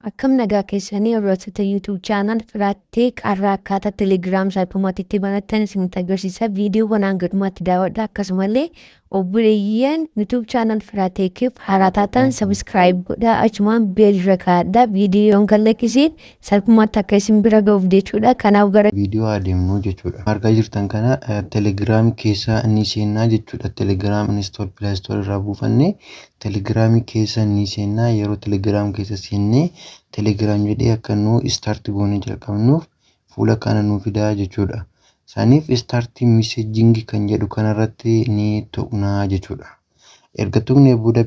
Akkam nagaa keessanii hordoftota YouTube channel Firat Tech har'a akkaataa Telegram salphumatti itti banattan isinitti agarsiisa viidiyoowwan hanga dhumaatti daawwadha akkasumallee obboleeyyan YouTube channel Firat Tech'f haaraa taatan subscribe godhaa achumaan beel irra kaa'adha viidiyoon kan lakkisiin salphumatti akka isin bira ga'uuf jechuudha kanaaf gara viidiyoo haa deemnu jechuudha. Argaa jirtan kana Telegram keessa ni seennaa jechuudha. Telegram install Play Store irraa buufannee Telegram keessa ni seenna yeroo Telegram keessa seennee Telegram jedhee akka nu start goonee jalqabnuuf fuula kana nu fidaa jechuudha. Saniif start messaging kan jedhu kanarratti ni tuqnaa jechuudha. Erga tuqnee booda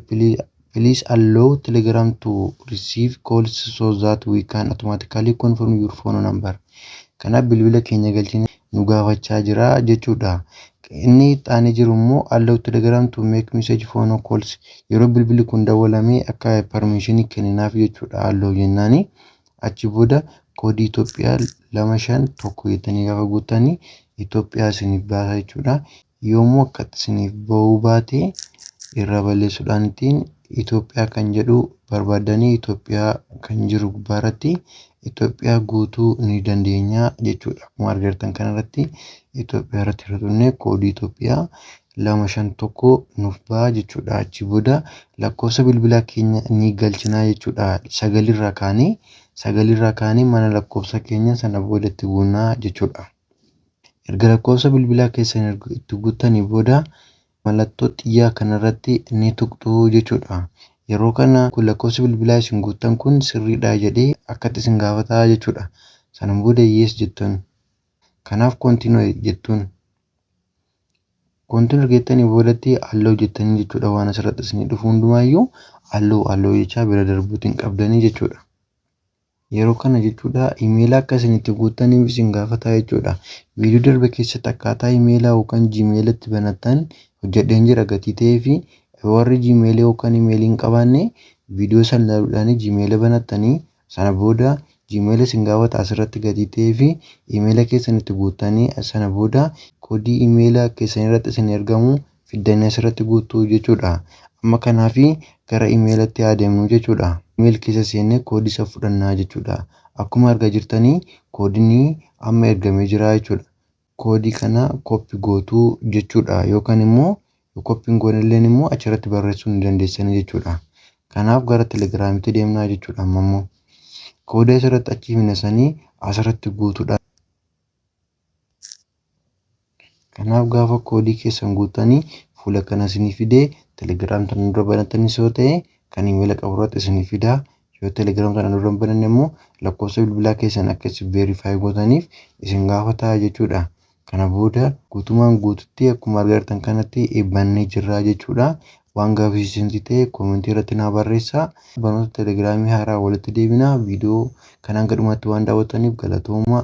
please allow Telegram to receive calls so that we can automatically confirm your phone number. Kanaaf bilbila keenya galchine nu gaafachaa jira jechuu dha. Inni itti aanee jiru immoo allow telegram to make message phone calls yeroo bilbilli kun dawwalamee akka permission kenninaaf jechuu dha allow jennaani. Achi booda koodii Itoophiyaa lama shan tokko jettanii gaafa guuttanii Itoophiyaa isiniif baasa jechuu dha. yoomuu akkatti isiniif ba'uu baate irraa balleessuudhaan ittiin Itoophiyaa kan jedhu barbaaddanii Itoophiyaa kan jiru gubbaa irratti Itoophiyaa guutuu ni dandeenya jechuudha. Akkuma argartan kana irratti Itoophiyaa irratti irra tunnee koodii Itoophiyaa lama shan tokko nuuf ba'a jechuudha. Achi booda lakkoofsa bilbilaa keenya ni galchinaa jechuudha. Sagalirraa kaanee sagalirraa kaanee mana lakkoofsa keenya sana boodatti buunaa jechuudha. Erga lakkoofsa bilbilaa keessan erga itti guuttanii booda mallattoo xiyyaa kana irratti ni tuqxu jechuudha. Yeroo kana kun lakkoofsi bilbilaa isin guuttan kun sirriidha jedhee akkatti isin gaafata jechuudha. Sana booda yes jettuun. Kanaaf continue jettuun. Continue erga jettanii boodatti allow jettanii jechuudha waan asirratti isinii dhufu hundumaayyuu allow allow jechaa bira darbuutiin qabdanii jechuudha. Yeroo kana jechuudha imeela akka isin itti guuttaniif isin gaafataa jechuudha. Viidiyoo darbe keessatti akkaataa imeela yookaan jiimeela itti banattan hojjedheen jira gatii ta'ee fi warri jiimeela yookaan imeelii hin qabaanne viidiyoo san ilaaluudhaan jiimeela banattanii sana booda jiimeela isin gaafata asirratti gatii ta'ee fi imeela keessan itti guuttanii sana booda koodii imeela keessan irratti isin ergamu fiddanii asirratti guuttu jechuudha. Amma kanaaf gara imeelatti haa deemnu jechuudha. Imeel keessa seennee koodii isa fudhannaa jechuudha. Akkuma argaa jirtan koodiin amma ergamee jira jechuudha. Koodii kana koppi gootu jechuudha yookaan immoo koppi hin goonelleen immoo achirratti barreessuu ni dandeessanii jechuudha. Kanaaf gara telegiraamitti deemnaa jechuudha amma immoo. Koodii asirratti achi himne sanii asirratti guutuudha. Kanaaf gaafa koodii keessan guuttanii fuula kana isinii fidee telegiraam sana dura banatanis yoo ta'e kan imeela qabu irratti isinii fidaa yoo telegiraam sana dura hin bananne immoo lakkoofsa bilbilaa keessan akka isin veerifaayi gootaniif isin gaafataa jechuudha. Kana booda guutumaan guututti akkuma argitan kanatti bannee jirra jechuudha. Waan gaaffii isinii ta'e koomentii irratti naa barreessaa. Barnoota telegiraamii haaraa walitti deebina. Viidiyoo kanaan gadhumatti waan daawwattaniif galatoomaa.